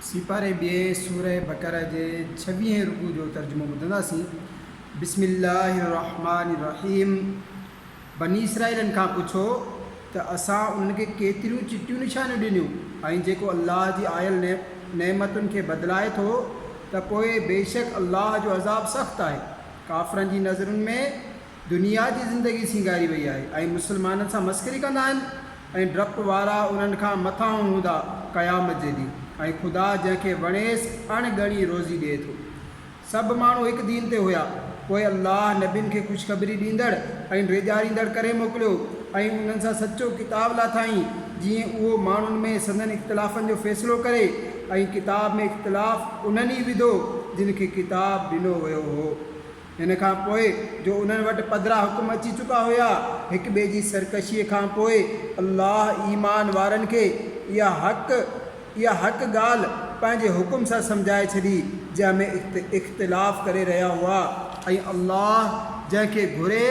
سيپاري ٻئي سورة بقرة جي ڇويهين رڪوع جو ترجمو ٻڌنداسين، بسم الله الرحمٰن الرحيم بني اسرائيلن کان پڇو ته اسان انهن کي ڪيتريون چٽيون نشانيون ڏنيون ۽ جيڪو الله جي آيل نعمتن کي بدلائي ٿو ته پوء بيشڪ الله جو عذاب سخت آهي ڪافرن جي نظرن ۾ دنيا جي زندگي سينگاري وئي آهي ۽ مسلمانن سان مسخري ڪندا آهن ۽ ڊپ وارا انهن کان مٿانهون هوندا قيامت جي ڏينهن ۽ خدا جنهن کي وڻيس اڻ ڳڻي روزي ڏئي ٿو. سڀ ماڻهو هڪ دين تي هيا پوء الله نبين کي خوشخبري ڏيندڙ ۽ ڊيڄاريندڙ ڪري موڪليو ۽ انهن سان سچو ڪتاب لاٿائين جيئن اهو ماڻهن ۾ سندن اختلافن جو فيصلو ڪري ۽ ڪتاب ۾ اختلاف انهن ئي وڌو جن کي ڪتاب ڏنو ويو هو. ان کان پوء جو انهن وٽ پڌرا حڪم اچي چڪا هيا، هڪ ٻئي جي سرڪشيء کان پوء، الله ايمان وارن کي اها حق، اها حق ڳالهه، پنهنجي حڪم سان سمجهائي ڇڏي، جنهن ۾ اختلاف ڪري رهيا هئا. ۽ الله جنهن کي گهري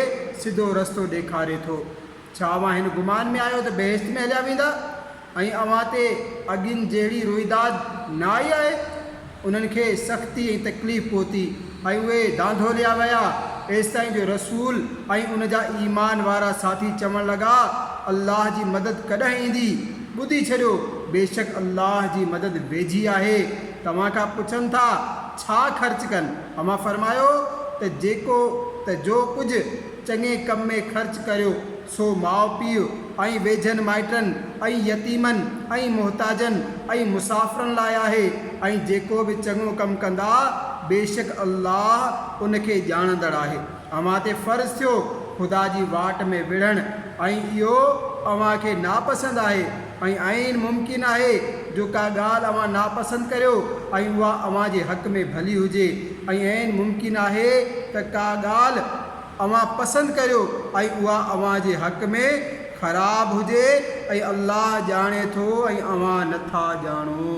سڌو رستو ڏيکاري ٿو. ڇا اوهان هن گمان ۾ آهيو ته بهشت ۾ هليا ويندا ۽ اوهان تي اڳين جهڙي روئداد نه آئي آهي؟ انهن کي سختي ۽ تڪليف پهتي ۽ اهي ڌانڌوليا ويا، ايستائين جو رسول ۽ ان جا ايمان وارا ساٿي چوڻ لڳا، الله جي مدد ڪڏهن ايندي؟ ٻڌي ڇڏيو، بيشڪ الله جي مدد ويجهي آهي. توهان کان پڇن ٿا، ڇا خرچ ڪن؟ اوهان فرمايو ته جيڪو ته جو ڪجهه. چڱي ڪم ۾ خرچ ڪريو، سو ماء پيء ۽ ويجهن مائٽن ۽ يتيمن ۽ محتاجن ۽ مسافرن لاء آهي، ۽ جيڪو به چڱو ڪم ڪندا، بيشڪ الله ان کي ڄاڻندڙ آهي. اوهان تي فرض ٿيو خدا جي واٽ ۾ وڙهڻ، ۽ اهو اوهان کي ناپسند آهي، ۽ عين ممڪن آهي جو ڪا ڳالهه اوهان ناپسند ڪريو ۽ اها اوهان جي حق ۾ ڀلي هجي ۽ عين ممڪن آهي ته ڪا ڳالهه اوهان پسند ڪريو ۽ اها اوهان جي حق ۾ خراب هجي ۽ الله ڄاڻي ٿو ۽ اوهان نٿا ڄاڻو.